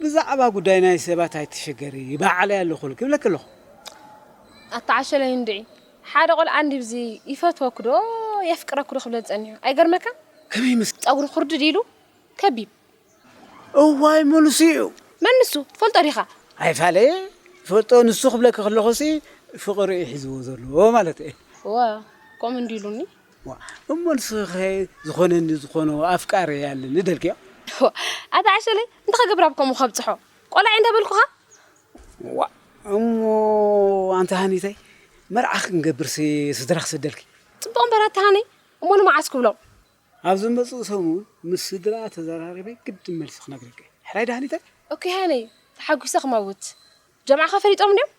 ብዛዕባ ጉዳይ ናይ ሰባት ኣይትሸገሪ ይበዓለይ ኣለኹ ክብለኪ ኣለኹ። ኣታ ዓሸለይ እንድዒ ሓደ ቆልዓ እንዲብዚ ይፈትወኪ ዶ የፍቅረኪ ዶ ክብለኒ ጸኒሑ ኣይገርመካን? ከመይ ምስ። ጸጉሩ ኩርድድ ኢሉ ከቢብ። እዋይ መሉሱ'ዩ። መን ንሱ ትፈልጦ ዲኻ? ኣይፋለየ ይፈልጦ ንሱ ክብለኪ ከለኹ'ሲ ፍቕሪ'ዩ ሒዝዎ ዘሎ ማለተይ'የ። እወ ከምኡ እንዲሉኒ ዋእ እሞ ንስኺ ከ ዝኾነኒ ዝኾኖ ኣፍቃሪ ኣለኒ ደልክዮ። ዋእ ኣታ ዓሸለይ እንታይ ክገብር ኣብ ከምኡ ከብጽሖ ቆላዒ እንተ በልኩኻ። ዋእ እሞ ኣንቲ ሃኒተይ መርዓ ክንገብርሲ ስድራ ክሰደልኪ። ጽቡቕ እምበር ኣቲ ሃኒ እሞ ንመዓስ ክብሎም። ኣብ ዝመጽእ ሰሙን ምስ ስድራ ተዘራሪበ ግድን መልሲ ክነግረኪ ሕራይ ዶ ሃኒተይ። ኦኬ ሃነይ ተሓጒሰ ክመውት። ጀምዓኻ ፈሊጦም ድዮም?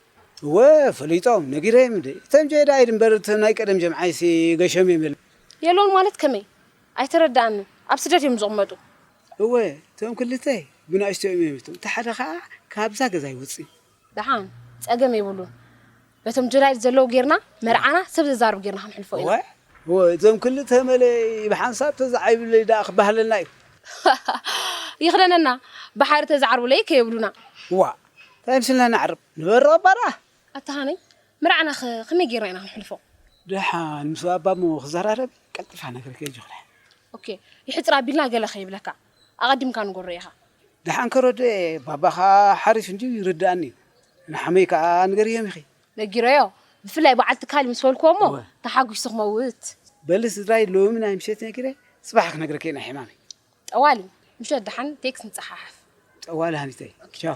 እወ ፈሊጦም ነጊረዮም እንዴ እቶም ጀይዳ ኢድ እምበር እቶም ናይ ቀደም ጀምዓይሲ ገሾም እዮም የለን። የሎን ማለት ከመይ ኣይተረደኣንን ኣብ ስደት እዮም ዝቕመጡ? እወ እቶም ክልተ ብናእሽተይኦም እዮም እቶም እቲ ሓደ ኸኣ ካብዛ ገዛ ኣይወጽእን። ደሓን ጸገም የብሉን በቶም ጀላይል ዘለው ጌርና መርዓና ሰብ ዘዛርብ ጌርና ክንሕልፎ ኢና። እዋይ እዞም ክልተ መለይ ብሓንሳብ ተዝዓይብለይ ድኣ ክበሃለና እዩ። ሃሃሃ ይኽደነና ብሓሪ ተዝዓርቡለይ ከየብሉና። ዋእ ታይ ምስልና ነዕርብ ንበሮ እባ ድኣ። ኣታ ሃነይ መርዓና'ኸ ከመይ ጌርና ኢና ክንሕልፎ? ድሓን ምስ ባባ እሞ ክዘራረብ ቀልጢፋ ነግረኪ ኣጆኺ ድሓን። ኦኬ ይሕጽር ኣቢልና ገለ ከይብለካ። ኣቀዲምካ ንገሮ ኢካ። ደሓን ከረድኦ እየ ባባ ከኣ ሓሪፍ እንድዩ ይርድኣኒ እዩ ንሓመይ ከኣ ንገርዮም ኢኺ። ነጊረዮ ብፍላይ በዓል ትካል ምስ በልክዎ እሞ ተሓጒሱ ክመውት። በሊ ስድራይ ሎሚ ናይ ምሸት ነጊረ ጽባሕ ክነግረኪ ናይ ሕማመይ። ጠዋሊ ምሸት ደሓን ቴክስ ንጸሓሓፍ። ጠዋሊ ሃኒተይ ቻው።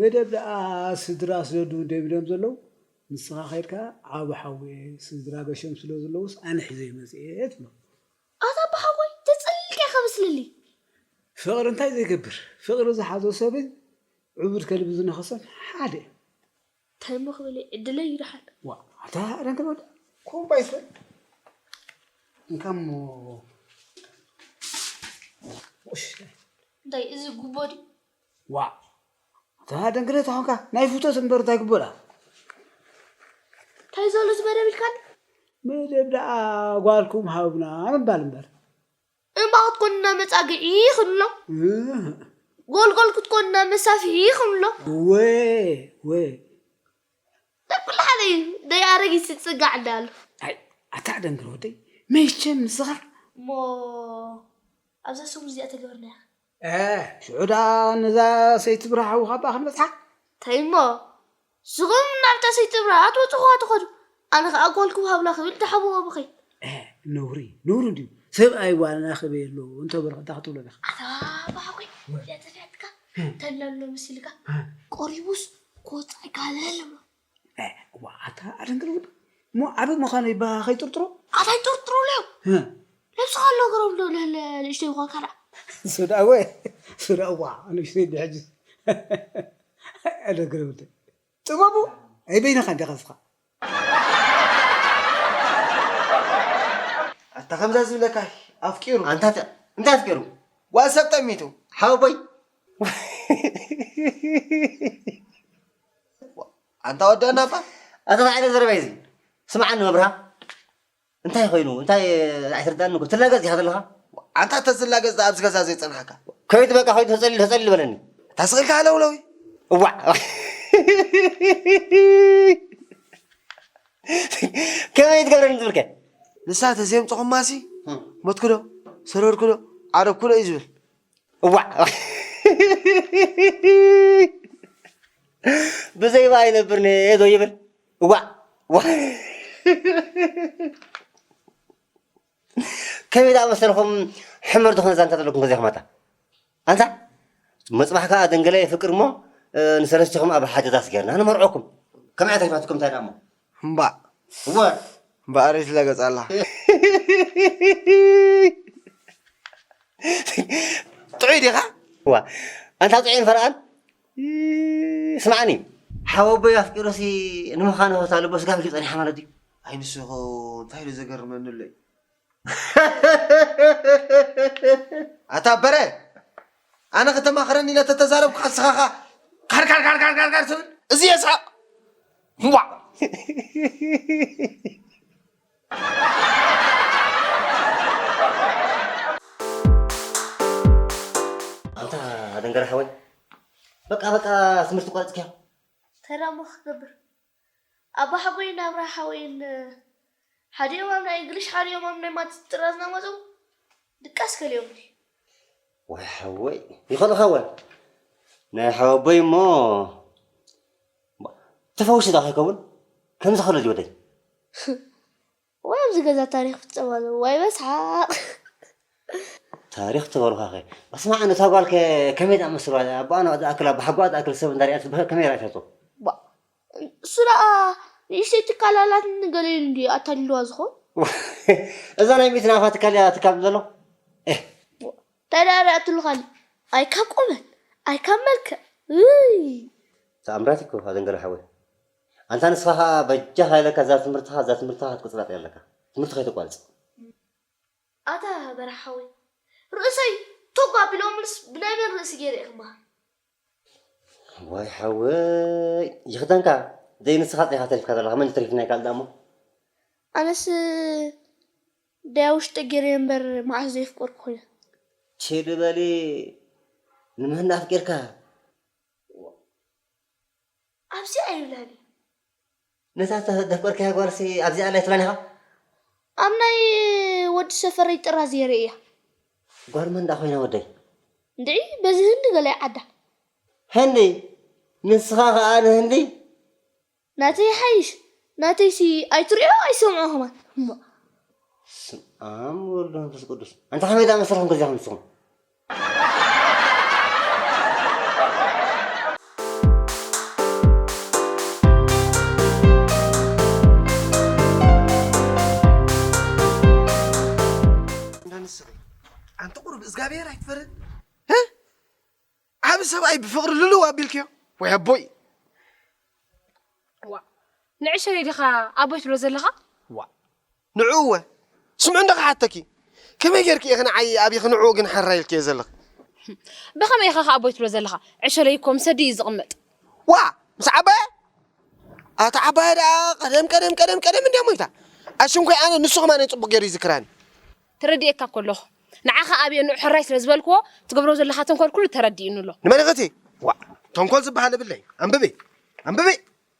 መደብ ደኣ ስድራ ስደዱ ደብሎም ዘለዉ ንስኻ ከድካ ዓቢ ሓውየ ስድራ ገሾም ስለ ዝለዉስ ኣነ ሒዘዮ መጽየ ትብሎ። ኣታ ኣቦ ሓወይ ተጽሊልካ ኢካ በስልሊ። ፍቅሪ እንታይ ዘይገብር ፍቅሪ ዝሓዞ ሰብን ዑቡድ ከልቢ ዝነኸሰን ሓደ እዮም። ታይ እሞ ክብል ዕድለይ እዩ ደሓን። ዋእ ኣታ ኣረንትር ወዲ ኮምባይ ሰብ እንካ እሞ ቁሽት። እንታይ እዚ ጉቦ ድዩ ዋእ እታ ደንግለ ተኾንካ ናይ ፍቶት እምበር እንታይ ግበራ። ታይ ዘሎ እዚ መደብ ኢልካኒ። መደብ ደኣ ጓልኩም ሃቡና ምባል እምበር። እምባ ክትኮኑና መጻግዒ ክንብሎ። እህእ። ጎልጎል ክትኮኑና መሳፍሒ ክንብሎ። እወ እወ። ናይ ኩሉ ሓደ እዩ ደይ ኣረጊት ዝጽጋዕ እንዳ ኣሎ። ኣይ ኣታ ደንግለ ወደይ መቸም ንስኻ። እሞ ኣብዛ ሰሙን እዚኣ ተገበርናያ። ኤህ ሽዑ ደኣ ነዛ ሰይቲ ብርሃ ውሃባ ክንበጽሓ። ታይ እሞ ንስኹም ናብታ ሰይቲ ብርሃ ኣትበጽሕዋ ትኸዱ ኣነ ከኣ ጓል ክውሃብላ ክብል ደሓብኦ ብኺ። ኤህ ነውሪ ነውሪ እንድዩ ሰብኣይ ጓል ኣረክበየሎ እንተ በልኹ እንታይ ክትብሎ ዲኻ። ኣታ ብሓቂ እዚኣ ጠፊኣትካ ተላሎ መሲልካ። ቆሪቡስ ክወጽእ ኣይከኣለን እሞ እ እዋ ኣታ ኣደንግር ወዲ እሞ ዓቢ ምዃኑ ይባሃ ከይጥርጥሮ ኣታ ይጥርጥሮ ለው ነብስኻ ኣሎ ገሮም ዶ ለለ ንእሽተይ ይኾን ካላ ሱዳ ወ ሱዳ እዋ ንእሽተይ ድሕጅ ኣደንግር ወዲ ጥበቡ ኣይ በይነኻ እንዲኻ ስኻ ኣታ ከምዛ ዝብለካ ኣፍቂሩ ኣንታ እንታይ ኣፍቂሩ ጓል ሰብ ጠሚቱ ሓወቦይ ኣንታ ወዲ ኣናብባ ኣታ ታይ ዓይነት ዘረባ እዩ እዚ ስምዓኒ መብርሃ እንታይ ኮይኑ እንታይ ኣይትርዳእኒ እኮ ትላገጽ ዲኻ ዘለኻ ኣንታ ተዝላገጽ ደኣ ኣብዚ ገዛ ዘይጸንሓካ ከይድ በቃ ከይድ ተጸሊል ተጸሊል በለኒ እታ ስቕ ኢልካ ሃለውለው እዩ እዋዕ ከመይ ትገብረኒ ትብል ከ ንሳ ተዘየምጽኹማሲ ሞትኩዶ ሰረርኩዶ ዓረብኩዶ እዩ ዝብል እዋዕ ብዘይባ ኣይነብርን እየ ዶ ይብል እዋዕ እዋዕ። ከመይ ደኣ መሰልኩም ሕመር ዝኾነ ዛንታ ዘለኩም ከዚኹም ኣታ ኣንታ መፅባሕ ከዓ ደንገለ የፍቅር እሞ እ፣ ንሰለስቲኹም ኣብ ሓደ ዳስ ገርና ንመርዖኩም ከመይ ኣታይፋትኩም እንታይ ደኣ እሞ እምባእ እምበኣር ይትለገጽ ኣላ ጥዑይ ዲኻ ኣንታ ጥዑይን ፈርቓን ስምዓኒ ሓወቦይ ኣፍቂሩሲ ንምዃኑ ህታ ልቦ ስጋ ኪጸኒሓ ማለት እዩ ኣይ ንስኹ እንታይ ኢሉ ዘገርመኒ ኣሎ ኣታ በረ ኣነ ከተማኽረኒ ኢለ ተተዛረብካ ንስኻ ኸኣ ካርካርካርካርካር ትብል እዚ የስሕቕ እምቧ ኣንታ ኣደንገረ ሓወይ በቃ በቃ ትምህርቲ ቋሪጽካዮ እንታይ ደኣ እሞ ክገብር ኣባሓጎይን ኣብራሓወይን ሓዲኦም ኣብ ናይ እንግሊሽ ሓዲኦም ኣብ ናይ ማትስ ጥራዝ ናመጹ ድቃስ ከሊኦምኒ። ዋይ ሓወይ ይኽእል ክኸውን ናይ ሓወቦይ እሞ ተፈዊሱ ዶ ከይከውን ከምዚ ከሎ ዝወደይ። እዋይ ኣብዚ ገዛ ታሪክ ፍጸም ኣሎ ዋይ በስሓቅ። ታሪኽ ተበርዃኸ በስመ ኣም እታ ጓል ከ ከመይ ዳኣመስልዋ ኣቦኣ ናብ ዳኣክል ኣቦሓጎኣ ዳኣክል ሰብ እንዳ ሪኣት በከ ከመይ ራኢታቶ። ባእ ንሱ ደኣ ንእሽተይ ትካል ኣላትኒ ገለ ኢሉ እንድዩ ኣታሊልዋ ዝኮን። እዛ ናይ ሚእቲ ናቅፋ ትካል ድያ ትካብ ዘሎ ኤህ። ባእ ታይ ደኣ ሪኣትሉ ካሊእ ኣይ ካብ ቁመት ኣይ ካብ መልክዕ እይ። ታኣምራት እኮ ኣደንገረ ሓወይ። ኣንታ ንስኻ ከኣ በጃኻ ኢለካ እዛ ትምህርትኻ እዛ ትምህርትኻ ክትቅጽላ ኣለካ ትምህርቲ ከይተቋርጽ። ኣታ በራሕ ሓወይ ርእሰይ ቶግ ኣቢሎምልስ ብናይ መን ርእሲ ጌረ እየ ክመሃር። ዋይ ሓወይ ይኽደንካ ደይ ንስኻ ጥራይ ኢኻ ተሪፍካ ዘለኻ መን እዩ ተሪፉ ናይ ካልእ ደኣሞ። ኣነስ ደይ ኣብ ውሽጠይ ጌረዮ እምበር መዓስ ዶ የፍቀርኩ ኮይነ። ችል በሊ ንመን ኣፍቂርካ። ኣብዚ ኣይብላን እዩ። ነታ ዘፍቀርካያ ጓልሲ ኣብዚ ኣላ ኣይትብላን ኢኻ? ኣብ ናይ ወዲ ሰፈረይ ጥራዝ እየ ርእያ። ጓል መን ደኣ ኮይና ወደይ? እንድዒ በዚ ህንዲ ገለ ዓዳ። ህንዲ? ንስኻ ከኣ ንህንዲ? ናተይ ይሓይሽ ናተይሲ ኣይትርእዮ ኣይትሰምዖ ከማን እሞ። በስምኣም ወወልድ ወመንፈስ ቅዱስ ኣንታ ከመይ ደኣ መሰልኩም ከዚኹም ንስኹም። ሰብኣይ ብፍቕሪ ልልው ኣቢልክዮ ወይ ኣቦይ ዋ ንዕሸለይ ዲኻ ኣቦይ ትብሎ ዘለኻ ዋ ንዕኡ እወ ስምዑ እንዶ ክሓተኪ ከመይ ጌርኪ ኢኺ ንዓይ ኣብኺ ንዕኡ ግን ሕራይ ኢልክዮ ዘለኺ? ብኸመይ ኢኻ ከ ኣቦይ ትብሎ ዘለኻ? ዕሸለይ እኮ ምስ ኣደይ እዩ ዝቕመጥ። ዋእ ምስ ዓባየ? ኣታ ዓባየ ደኣ ቀደም ቀደም ቀደም ቀደም እንድያ ሞይታ። ኣሽንኳይ ኣነ ንሱ ከማነይ ጽቡቕ ጌሩ ይዝክራኒ። ተረዲኤካ እኮ ኣለኹ። ንዓኻ ኣብየ ንዑ ሕራይ ስለ ዝበልክዎ ትገብሮ ዘለኻ ተንኮል ኩሉ ተረዲኡኒ ኣሎ። ንመን ኢኺ እቲ? ዋእ ተንኮል ዝበሃል የብለይን። ኣንብቢ ኣንብቢ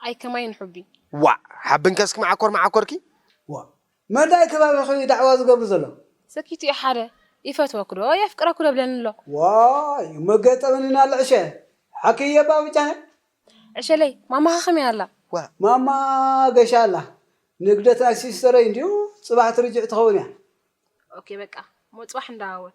ኣይ ከማይ ንሑቢ። ዋእ ሓብንከ እስኪ መዓኮር መዓኮርኪ። ዋእ መዳይ ከባቢኺ እዩ ዳዕዋ ዝገብር ዘሎ። ሰኪቱ እዩ ሓደ ይፈትወኩ ዶ የፍቅረኩ ዶ ብለኒ ኣሎ። ዋይ እሞ ገጠመኒ ናለ ዕሸ ሓኪ እየ እባ ብጃኺ። ዕሸለይ ማማኺ ከመይ ኣላ። ዋእ ማማ ገሻ ኣላ ንግደት ናይ ሲስተረይ እንድዩ ጽባሕ ትርጅዕ ትኸውን እያ። ኦኬ በቃ እሞ ጽባሕ ንዳዋወል።